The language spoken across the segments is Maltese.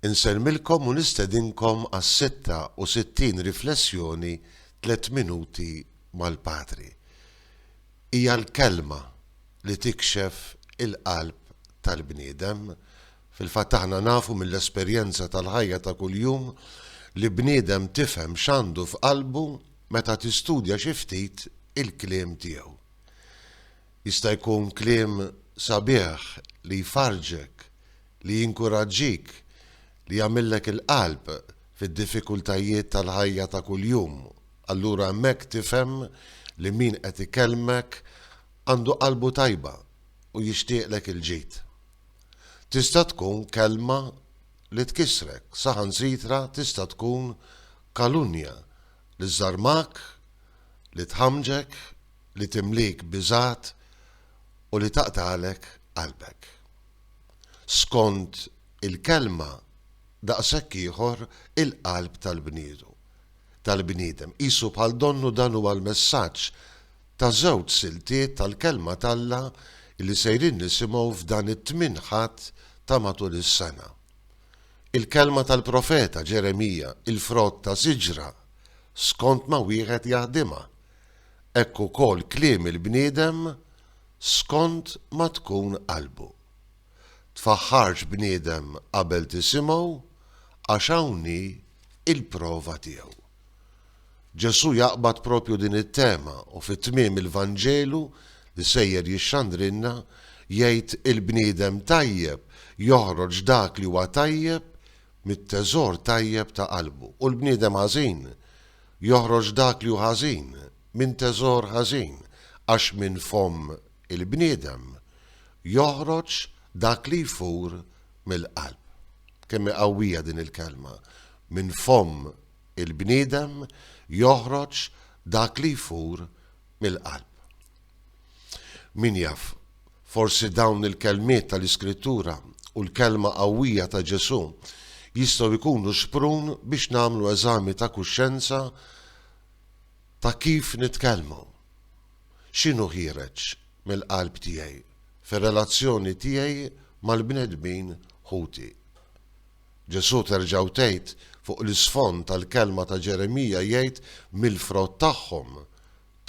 Insellmilkom u nistedinkom għas-66 riflessjoni Tliet Minuti mal-Patri. Hija l-kelma li tikxef il-qalb tal-bniedem. Fil-fatt aħna nafu mill-esperjenza tal-ħajja ta' kuljum li bniedem tifhem x'għandu f'qalbu meta tistudja xi ftit il-kliem tiegħu. Jista' jkun kliem sabiħ li jfarrġek, li jinkuraġġik, li jagħmillek il-qalb fid-diffikultajiet tal-ħajja ta' kuljum. Allura hemmhekk tifhem li min qed ikellmek għandu qalbu tajba u jixtieqlek il-ġid. Tista' tkun kelma li tkissrek, saħansitra tista' tkun kalunnja li żżarmak, li tħammġek li timlik biżgħat u li taqtagħlek qalbek. Skond il-kelma daqshekk ieħor il-qalb tal-bniedu, tal-bniedem, qisu bħal donnu dan huwa l-messaġġ ta' żewġ siltiet tal-Kelma t'Alla li sejrin nisimgħu f'dan it-Tmien Ħadd ta' matul is-sena. Il-kelma tal-profeta Ġeremija, il-frott ta' siġra, skond ma wieħed jaħdimha, hekk ukoll kliem il-bniedem skond ma tkun qalbu. Tfaħħarx bniedem qabel tisimgħu għax hawn hi il-prova tiegħu. Ġesù jaqbad propju din it-tema u fi tmiem il-Vanġelu li sejjer jixxandrilna jgħid il-bniedem tajjeb joħroġ dak li huwa tajjeb mit-teżor tajjeb ta' qalbu u l-bniedem ħażin Joħroġ dak li hu ħażin minn teżor ħażin, għax minn fomm il-bniedem joħroġ dak li jfur mill-qalb. Kemm hi qawwija din il-kelma! Minn fomm il-bniedem joħroġ dak li jfur mill-qalb. Min jaf, forsi dawn il-kelmiet tal-Iskrittura u l-kelma qawwija ta' Ġesù jistgħu jkunu xprun biex nagħmlu eżami ta' kuxjenza ta' kif nitkellmu. X'inhu ħiereġ mill-qalb tiegħi fir-relazzjoni tiegħi mal-bnedmin ħuti? Ġesù terġgħu tgħid fuq l-isfond tal-kelma ta' Ġeremija jgħid mill-frott tagħhom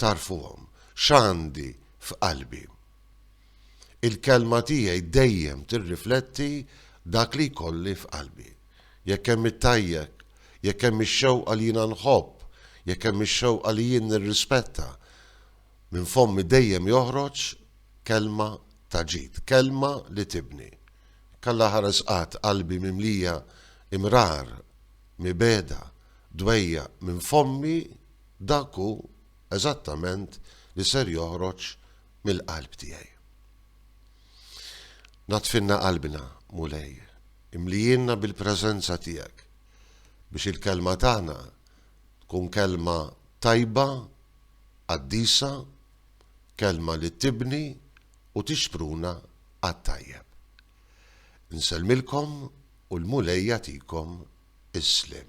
tagħrfuhom x'għandi f'qalbi. Il-kelma tiegħi dejjem tirrifletti dak li jkolli f'qalbi. Jekk hemm it-tajjek, jekk hemm ix-xewqa li jiena nħobb, jekk hemm ix-xewqa li jien nirrispetta, minn fommi dejjem joħroġ kelma ta' ġid, kelma li tibni. Jekk Alla ħares qatt qalbi mimlija imrar, mibegħda, dwejjaq minn fommi, Dak hu eżattament li ser joħroġ mill-qalb tiegħi. Naddfinna qalbna, Mulej, imlijiena bil-preżenza tiegħek, biex il-kelma tagħna tkun kelma tajba, qaddisa, kelma li tibni u tixpruna għat-tajjeb. Insellmilkom u l-Mulej jagħtikom is-sliem.